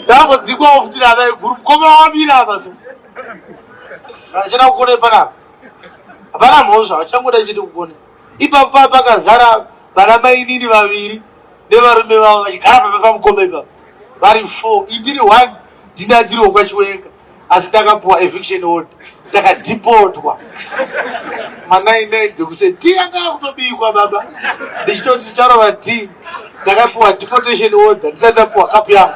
ndambodzikwawo futi nana iguru mukoma wamira apa so achada kukone panapa hapana mhosva vachangoda chete kukone ipapo paa pakazara vana mainini vaviri nevarume vavo vachigara papa pamukoma ipapo vari four indiri one ndinadiriwo kwachiwenga asi takapuwa eviction order takadhipotwa manainai dzekuse ti anga akutobikwa baba ndichitoti ticharova ti ndakapuwa deportation order ndisati ndapuwa kapu yangu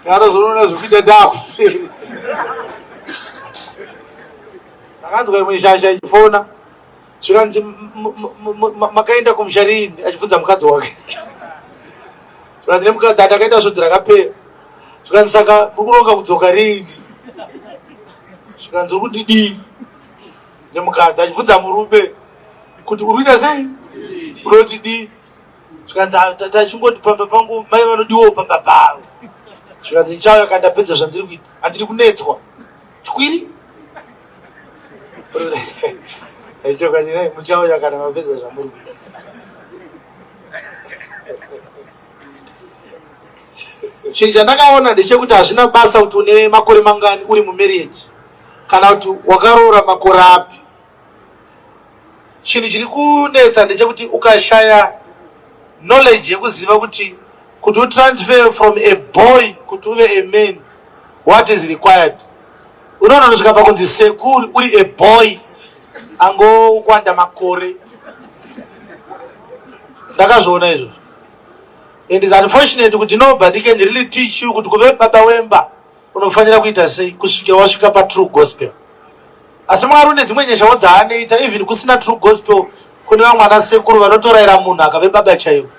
anozonoona zvekuita ndakuperi ndakanzwa imwe shasha ichifona zvikanzi makaenda kumusha riini achibvunza mukadzi wake zvikanzi nemukadzi atakaita svudzi rakapera zvikanzi saka uri kuronga kudzoka riini zvikanzi uri kundidii nemukadzi achibvunza murume kuti uri kuita sei unoti dii zvikanzi ah, tachingoti pamba pangu mai vanodiwo pamba pavo zvikanzi ndichauya kandapedza zvandiri kuita handiri kunetswa Chwiri. Echo kanyira muchawo yakana mapedza zvamuri. Chinhu chandakaona ndechekuti hazvina basa kuti une makore mangani uri mumarriage kana kuti wakaroora makore api. chinhu chiri kunetsa ndechekuti ukashaya knowledge yekuziva kuti kuti utransfer from a boy kuti uve a man what is required unononosvika pakunzi sekuri uri a boy angokwanda makore ndakazviona izvozvo and is unfortunate kuti nobody can really teach you kuti kuve baba wemba unofanira kuita sei kusvika wasvika patrue gospel asi mwari une dzimwe nyeshawo dzaanoita even kusina true gospel kune vamwana sekuru vanotoraira munhu akave baba chaivo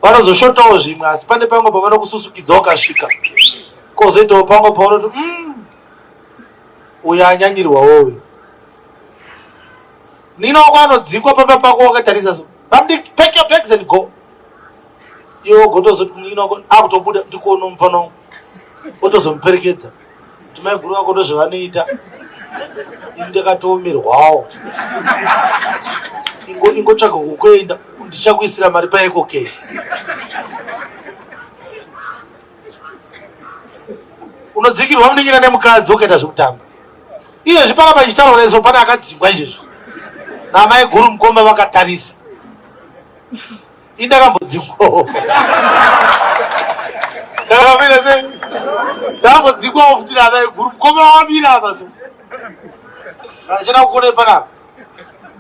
vanozoshotawo zvimwe asi pane pamwe pavanokususukidza ukasvika kozoitawo pamwe paunoti mm, uyo anyanyirwawo uyo ninaoko anodzikwa pamba pako wakatarisa so bamdiki pack your bags and go iwe ogotozoti munin'ina wako akutobuda ndikuona mufana wangu otozomuperekedza kuti maiguru vako ndozvevanoita ini ndakatoomerwawo ingotsvaga kukuenda ndichakuisira mari paeko keshi unodzingirwa munin'ina nemukadzi ukaita zvekutamba iyezvi pana pachitaro reso pane akadzingwa izvezvi namai guru mukoma vakatarisa Ini ndakambodzikwawo. Ndakamira sei? Ndakambodzikwawo futi nana iguru. Mukoma wamira apa so. Achana kukone panapa.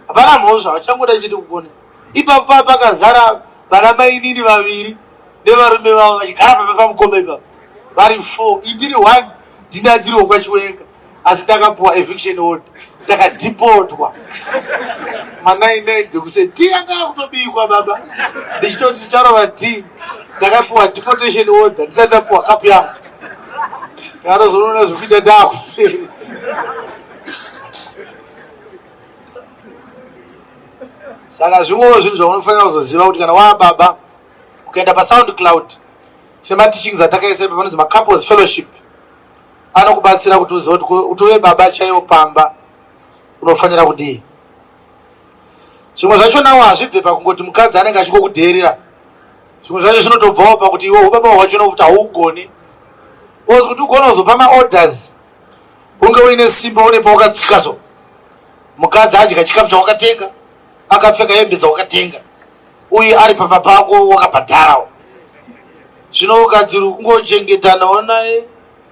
Hapana mhosva, achangoda chete kukone. Ipapo papa pakazara vana mainini vaviri nevarume vavo vachigara pamba pamukoma ipapo. Vari four, indiri one ndinadiriwo kwachiwenga. asi takapuwa eviction order takadhipotwa manainai dzekuse ti anga akutobikwa baba ndichitoti ticharova ti ndakapuwa deportation order ndisati ndapuwa kapu yangu anozonoona zvekuita ndakuperi saka zvingovo zvinhu zvaunofanira kuzoziva kuti kana waa baba ukaenda pasound cloud chematichings atakaisepa panonzi macouples fellowship anokubatsira kuti uzive kuti utove baba chaivo pamba unofanira kudii zvimwe zvacho nawo hazvibve pakungoti mukadzi anenge achikokudheerera zvimwe zvacho zvinotobvawo pakuti iwe ubaba hwacho nokuti haugoni bcause kuti ugone kuzopa maorders unge uine simba une pawakatsika so mukadzi adya chikafu chawakatenga akapfeka hembe dzawakatenga uyu ari pamba pako wakabhadharawo zvino ukadziri kungochengetanawo naye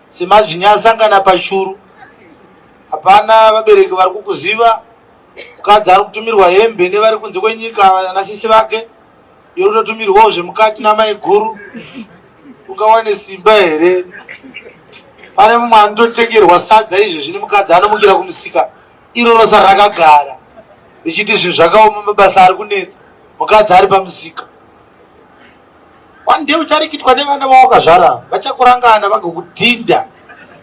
semazvinya asangana pashuru hapana vabereki vari kukuziva mukadzi ari kutumirwa hembe nevari kunze kwenyika vanasisi vake iri kutotumirwawo zvemukati namai guru ungawane simba here pane mumwe anototengerwa sadza izvezvi nemukadzi anomukira kumusika iro rosa rakagara richiti zvinhu zvakaoma mabasa ari kunetsa mukadzi ari pamusika one day ucharikitwa nevana vawakazvara vachakurangana vagokudhinda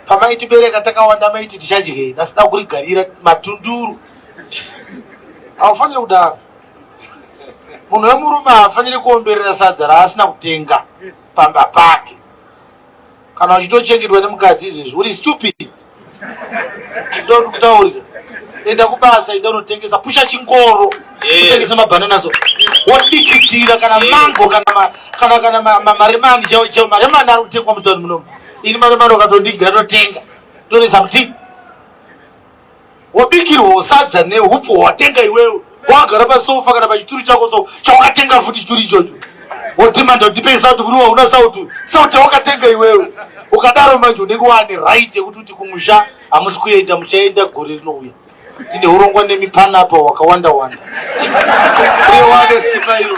pamaitibereka takawanda maiti tichadyei nasida kurigarira matunduru haufanire kudaro munhu wemurume haafanire kuomberera sadza raasina kutenga pamba pake kana uchitochengetwa nemukadzi izvezvi uri stupid ndoti kutaurira enda kubasa enda unotengesa pusha chingoro kutengesa mabhanana so wodikitira kana mango kana maremani chao chao maremani ari kutengwa mutauni munomu ini maremani ukatondigira ndotenga ndonesa mutii wabikirwawo sadza neupfu hwatenga iwewe wakagara pasofa kana pachituru chako so chawakatenga futi chituru ichocho wodhimanda kuti ndipei sauti muri wauna sauti sauti yawakatenga iwewe ukadaro manje unenge waane right yekuti kuti kumusha hamusi kuenda muchaenda gore rinouya tine urongwa nemipana apa wakawanda wanda uye waane simba iro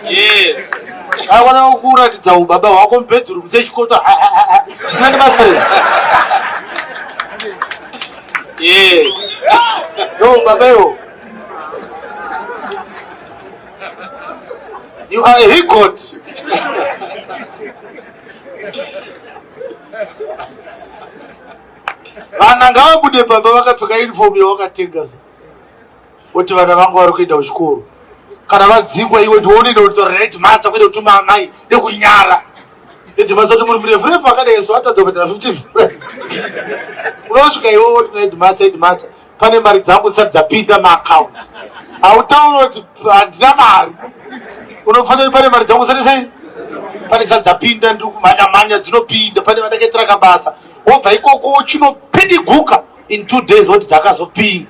yes Awana kukuratidza ubaba hwako mubedroom sechikota chisina nebasa rese. Yes. Yo baba yo. You are a higot. Vana ngavabude baba vakapfeka uniform yawakatenga. Oti vana vangu vari kuenda kuchikoro kana vadzingwa iwe ndiwonenda kutaura naedmasa kuita kutuma amai nekunyara edmasa kuti muri murefu refu akadai so atadza kubhadhara 15 unosvika iwe woti naedmasa edmasa pane mari dzangu zisati dzapinda maakaunti hautaura kuti handina mari unofanira kuti pane mari dzangu zisati sei pane zisati dzapinda ndiri kumhanya mhanya dzinopinda pane vandakaitira kabasa wobva ikoko chinopidiguka in two days woti dzakazopinda